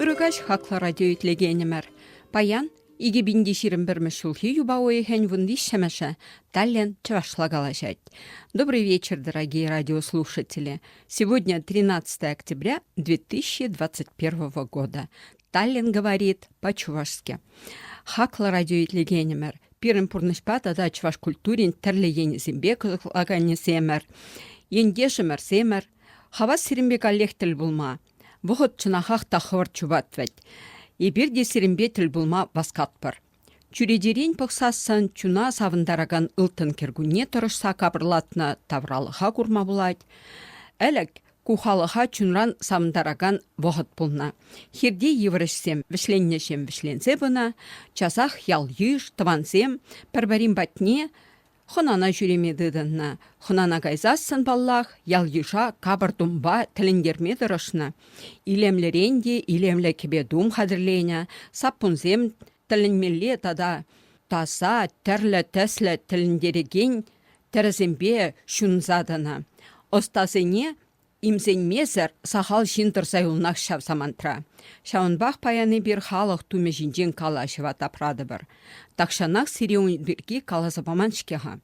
Ырӑ каҫ хаклӑ радио итлекенӗмӗр. Паян 2021 ҫулхи юпа уйӑхӗн вунвиҫҫӗмӗшӗ Таллин чӑвашла калаҫать. Добрый вечер, дорогие радиослушатели. Сегодня 13 октября 2021 года. Таллин говорит по-чувашски. Хаклӑ радио итлегенӗмӗр, пирӗн пурнӑҫпа тата чӑваш культурин тӗрлӗ енӗсемпе кӑсӑклаканӗсемӗр, ентешӗмӗрсемӗр, хавас сирӗнпе каллех тӗл пулма. Вӑхӑт чӑнахах та хӑвӑрт чупать вӗт. Эпир те сирӗнпе тӗл пулма васкатпӑр. Чӳречерен пӑхсассӑн чуна савӑнтаракан ылтӑн кӗркунне тӑрӑшса капӑрлатнӑ тавралӑха курма пулать. Ӗлӗк ку халӑха чунран савӑнтаракан вӑхӑт пулнӑ. Хирти йывӑрӑшсем вӗҫленнӗҫем вӗҫленсе пынӑ. Часах ял-йыш, тӑвансем пӗр-пӗрин патне Хӑнана ҫӳреме тытӑннӑ. Хӑнана кайсассӑн, паллах, ял-йыша капӑр-тумпа тӗлӗнтерме тӑрӑшнӑ. Илемлӗрен те илемлӗ кӗпе-тум хатӗрленӗ, саппунсем тӗлӗнмелле тата таса, тӗрлӗ тӗслӗ тӗлӗнтерекен тӗрӗсемпе ҫунса тӑнӑ. Ӑстасене Имсенмесӗр сахал ҫын тӑрса юлнах ҫав самантра. Ҫавӑнпах паян эпир халӑх тумӗ ҫинчен калаҫӑва тапратӑпӑр. Тахҫанах сире ун пирки каласа паман-ҫке-ха.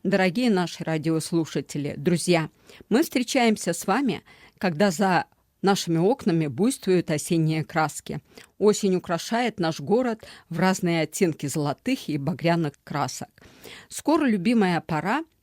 Дорогие наши радиослушатели, друзья, мы встречаемся с вами, когда за нашими окнами буйствуют осенние краски. Осень украшает наш город в разные оттенки золотых и багряных красок. Скоро любимая пора –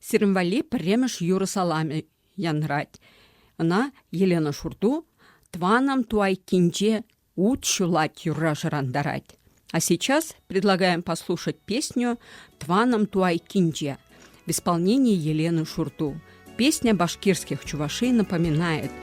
Сирӗн валли пӗрремӗш юрӑ саламӗ янрать. Ӑна Елена Шурту «Тваном ту айккинче ут ҫулать» юрра шӑрантарать. А сейчас предлагаем послушать песню «Тваном ту айккинче» в исполнении Елены Шурту. Песня башкирских чувашей напоминает –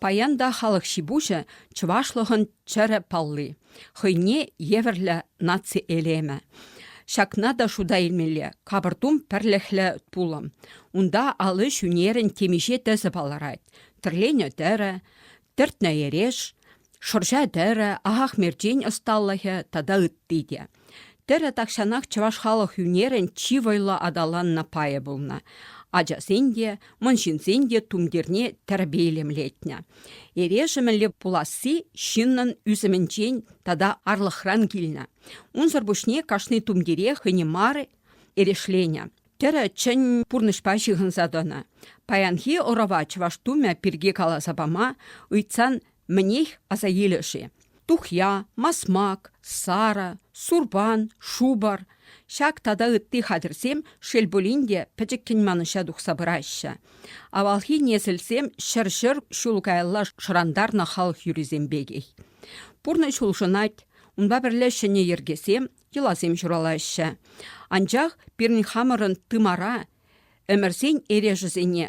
Паян та халӑх ҫи-пуҫӗ чӑвашлӑхӑн чӗрӗ палли, хӑйне евӗрлӗ наци элемӗ. Ҫакна та шута илмелле, капӑртум пӗрлӗхлӗ пулӑм. Унта ал ӗҫ ӳнерӗн темиҫе тӗсӗ палӑрать: тӗрленӗ тӗрӗ, тӗртнӗ эреш, шӑрҫа тӗрӗ, ахах мерчен ӑсталӑхӗ тата ытти те. Тӗрӗ тахҫанах чӑваш халӑх ӳнерӗн чи вӑйлӑ аталаннӑ пайӗ пулнӑ. Ачасен те, мӑнҫынсен те тумтирне тӗрпейлемлетнӗ. Эрешӗмӗлле пуласси ҫыннӑн ӳсӗмӗнчен тата арлӑхран килнӗ. Унсӑр пуҫне кашни тумтире хӑйне мар эрешленӗ. Тӗрӗ чӗн пурнӑҫпа ҫыхӑнса тӑнӑ. Паянхи ӑрӑва чӑваш тумӗ пирки каласа пама, ыйтсан Мӗнех, аса илӗ-ши, тухья, масмак, сарӑ, сурпан, шупӑр, ҫак тата ытти хатӗрсем шел пулин те пӗчӗккӗн манӑҫа тухса пыраҫҫӗ. Авалхи несӗлсем ҫӗр-ҫӗр ҫул каялла шӑрантарнӑ халӑх юррисем пекех. Пурнӑҫ улшӑнать, унпа пӗрле ҫӗнӗ йӗркесем, йӑласем ҫуралаҫҫӗ. Анчах пирӗн хамӑрӑн тымара, ӗмӗрсен эрешӗсене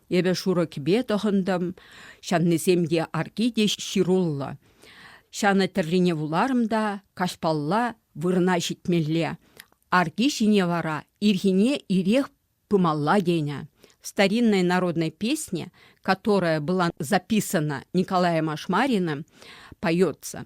Эпӗ шурӑ кӗпе тӑхӑнтӑм, ҫаннисем те, арки те ҫыруллӑ. Ҫанӑ тӗррине вуларӑм та каҫпалла вырӑна ҫитмелле. Арки ҫине вара ирхине ирех пымалла тенӗ. В старинной народной песне, которая была записана Николаем Ашмариным, поется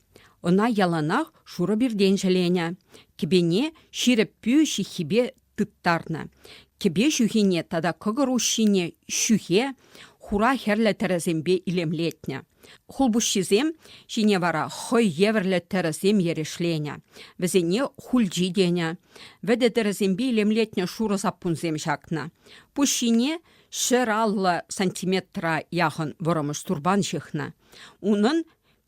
Ӑна яланах шурӑ пиртен ҫӗленӗ, кӗпене ҫирӗп пӳ ҫыххипе тыттарнӑ. Кӗпе ҫӳхине тата кӑкӑр уҫҫине ҫӳхе, хура хӗрлӗ тӗрӗсемпе илемлетнӗ. Хулпуҫҫисем ҫине вара хӑй евӗрлӗ тӗрӗсем эрешленӗ. Вӗсене хульчи тенӗ. Вӗтӗ тӗрӗсемпе илемлетнӗ шурӑ саппунсем ҫакнӑ. Пуҫ ҫине ҫӗр аллӑ сантиметра яхӑн вӑрӑмӑш турпан ҫыхнӑ. Унӑн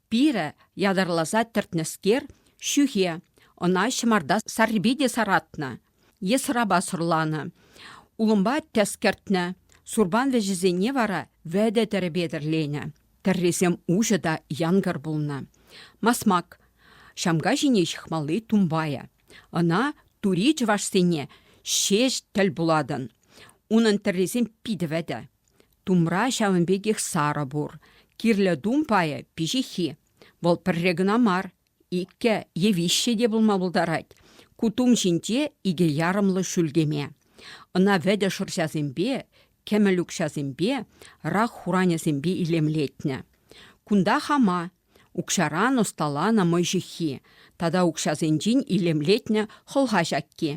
Пирӗ ятарласа тӗртнӗскер, ҫӳхе, ӑна ҫӑмарта саррипе те саратнӑ е сӑрапа сӑрланӑ. Улӑмпа тӗс кӗртнӗ, сурпан вӗҫӗсене вара вӗтӗ тӗрӗ петӗрленӗ. Тӗррисем уҫӑ та янкӑр пулнӑ. Масмак ҫамка ҫине ҫыхмалли тумбайӗ. Ӑна тури чӑвашсене ҫеҫ тӗл пулатӑн. Унӑн тӗррисем питӗ вӗтӗ. Тумра ҫавӑн пекех сарӑ пур. Кирлӗ тум пайӗ – пиҫиххи. Вӑл пӗрре кӑна мар, иккӗ е виҫҫӗ те пулма пултарать. Ку тум ҫинче икӗ ярӑмлӑ шӳлкеме. Ӑна вӗтӗ шӑрҫасемпе, кӗмӗл укҫасемпе, рак хуранӗсемпе илемлетнӗ. Кунта хама, укҫаран ӑсталанӑ мӑй ҫыххи тата укҫасенчен илемлетнӗ хӑлха ҫакки.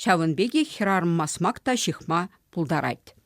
Ҫавӑн пекех хӗрарӑм масмак та ҫыхма пултарать.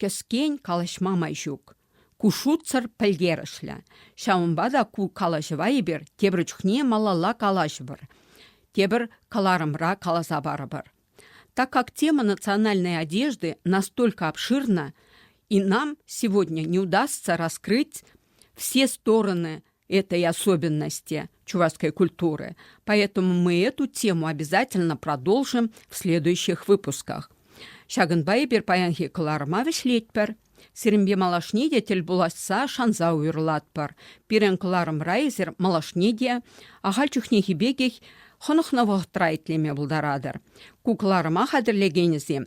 Кӗскен калаҫма май ҫук. Ку шутсӑр пӗлтерӗшлӗ. Ҫавӑнпа та ку калаҫӑва эпир тепӗр чухне малалла калаҫӑпӑр, тепӗр кӑларӑмра каласа парӑпӑр. Так как тема национальной одежды настолько обширна, и нам сегодня не удастся раскрыть все стороны этой особенности чувашской культуры, поэтому мы эту тему обязательно продолжим в следующих выпусках. Ҫакӑнпа эпир паянхи кӑларӑма вӗҫлетпӗр. Сирӗнпе малашне те тӗл пуласса шанса уйӑрлатпӑр. Пирӗн кӑларӑмра эсир малашне те ахаль чухнехи пекех хӑнӑхнӑ вӑхӑтра итлеме пултаратӑр. Ку кӑларӑма хатӗрлекенӗсем